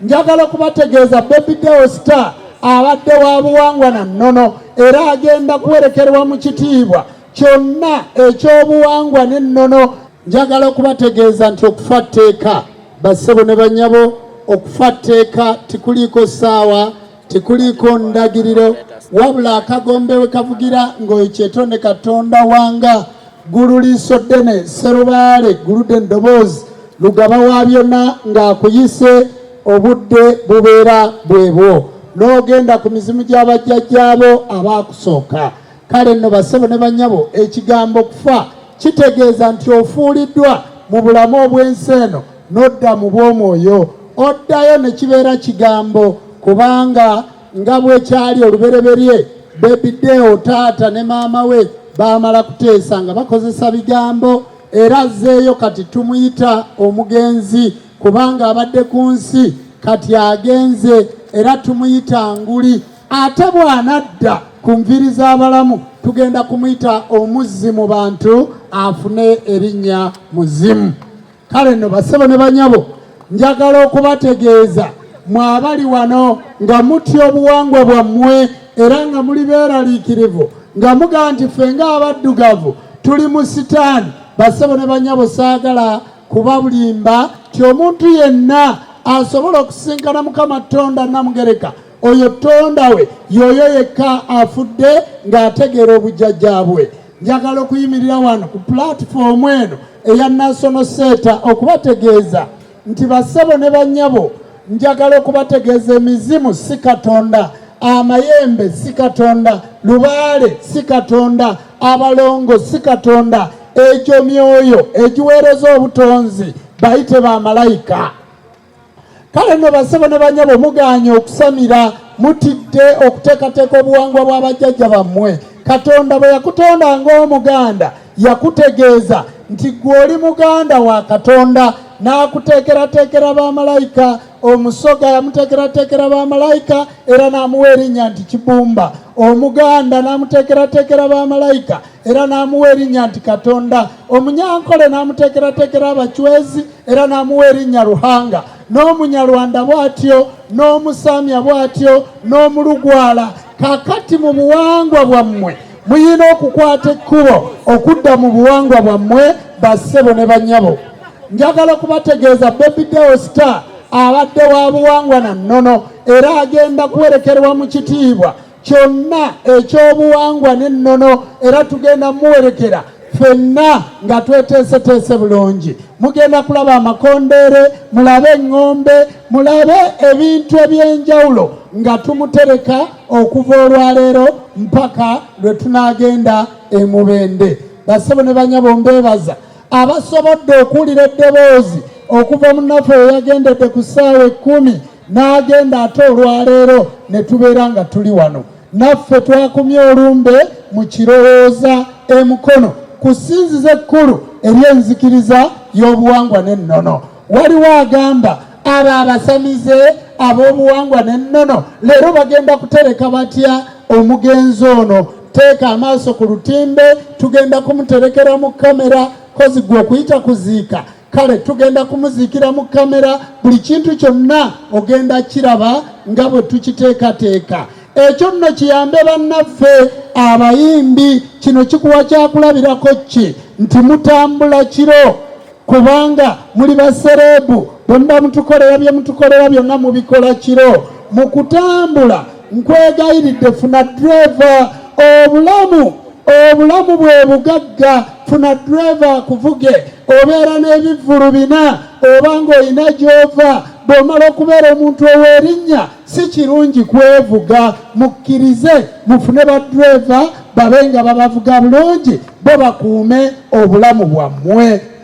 Njagala okubategeeza Baby Deo Star abadde wa buwangwa na nnono era agenda kuwerekerwa mu kitiibwa kyonna eky'obuwangwa n'ennono. Njagala okubategeeza nti okufa tteeka, bassebo ne banyabo, okufa tteeka tikuliiko ssaawa tekuliiko ndagiriro wabula akagombe we kavugira ng'oyo kyetonde katonda wanga ggulu liiso ddene serubaale ggulude endoboozi lugaba wa byonna ng'akuyise obudde bubeera bwebwo n'ogenda ku mizimu gy'abajjajjaabo abaakusooka Kale nno bassebo ne bannyabo, ekigambo kufa kitegeeza nti ofuuliddwa mu bulamu obw'ensi eno n'odda mu bw'omwoyo, oddayo ne kibeera kigambo, kubanga nga bwe kyali olubereberye, Baby Deo taata ne maama we baamala kuteesa nga bakozesa bigambo, era azzeeyo kati tumuyita omugenzi kubanga abadde ku nsi kati agenze era tumuyita nguli ate bw'anadda ku nviri z'abalamu tugenda kumuyita omuzzi mu bantu afune erinnya muzimu kale nno basebo ne banyabo njagala okubategeeza mwabali wano nga mutya obuwangwa bwammwe era nga muli beeraliikirivu nga muga nti ffe ng'abaddugavu tuli mu sitaani basebo ne banyabo saagala kubabulimba ti omuntu yenna asobola okusinkana mukama tonda namugereka oyo tonda we yoyo yekka afudde ng'ategeera obujjajja bwe njagala okuyimirira wano ku pulatifoomu eno eya nasono seeta okubategeeza nti bassebo ne bannyabo njagala okubategeeza emizimu si katonda amayembe si katonda lubaale si katonda abalongo si katonda egyo myoyo egiweereza obutonzi bayite ba malayika kale nno basebo ne banyabo muganye okusamira mutidde okuteekateeka obuwangwa bwa bajjajja bammwe katonda bwe yakutonda ng'omuganda yakutegeeza nti gwe oli muganda wa katonda n'akuteekerateekera bamalayika omusoga yamuteekerateekera bamalayika era n'amuwa erinnya nti kibumba omuganda n'amuteekerateekera bamalayika era n'amuwa erinnya nti katonda omunyankole n'amuteekerateekera abacwezi era n'amuwa erinnya ruhanga n'omunyarwanda bw'atyo n'omusamya bw'atyo n'omulugwala kakati mu buwangwa bwammwe muyina okukwata ekkubo okudda mu buwangwa bwammwe bassebo ne bannyabo njagala okubategeeza bebideo star abadde wa buwangwa na nnono era agenda kuwerekerwa mu kitiibwa kyonna eky'obuwangwa n'ennono era tugenda muwerekera fenna nga tweteeseteese bulungi mugenda kulaba amakondeere mulabe eŋŋombe mulabe ebintu eby'enjawulo nga tumutereka okuva olwaleero mpaka lwe tunaagenda emubende basebo ne banyabo mbeebaza abasobodde okuwulira eddoboozi okuva munaffe weyagendedde ku ssaawa ekkumi n'agenda ate olwaleero ne tubeera nga tuli wano naffe twakumye olumbe mu kirowooza emukono ku ssinzizo ekkulu ery'enzikiriza y'obuwangwa n'ennono waliwo agamba abo abasamize ab'obuwangwa n'ennono leero bagenda kutereka batya omugenzi ono teeka amaaso ku lutimbe tugenda kumuterekera mu kamera kozigwa okuyita kuziika kale tugenda kumuziikira mu kamera buli kintu kyonna ogenda kiraba nga bwe tukiteekateeka ekyo nno kiyambe bannaffe abayimbi kino kikuwa kyakulabirako ki nti mutambula kiro kubanga muli basereebu bwe muba mutukolera bye mutukolera byonna mubikola kiro mu kutambula Nkwegayiridde funa driver obulamu obulamu bwe bugagga funa driver akuvuge obeera n'ebivvulu bina oba ng'olina gy'ova bw'omala okubeera omuntu ow'erinnya si kirungi kwevuga mukkirize mufune ba driver babe nga babavuga bulungi bo bakuume obulamu bwammwe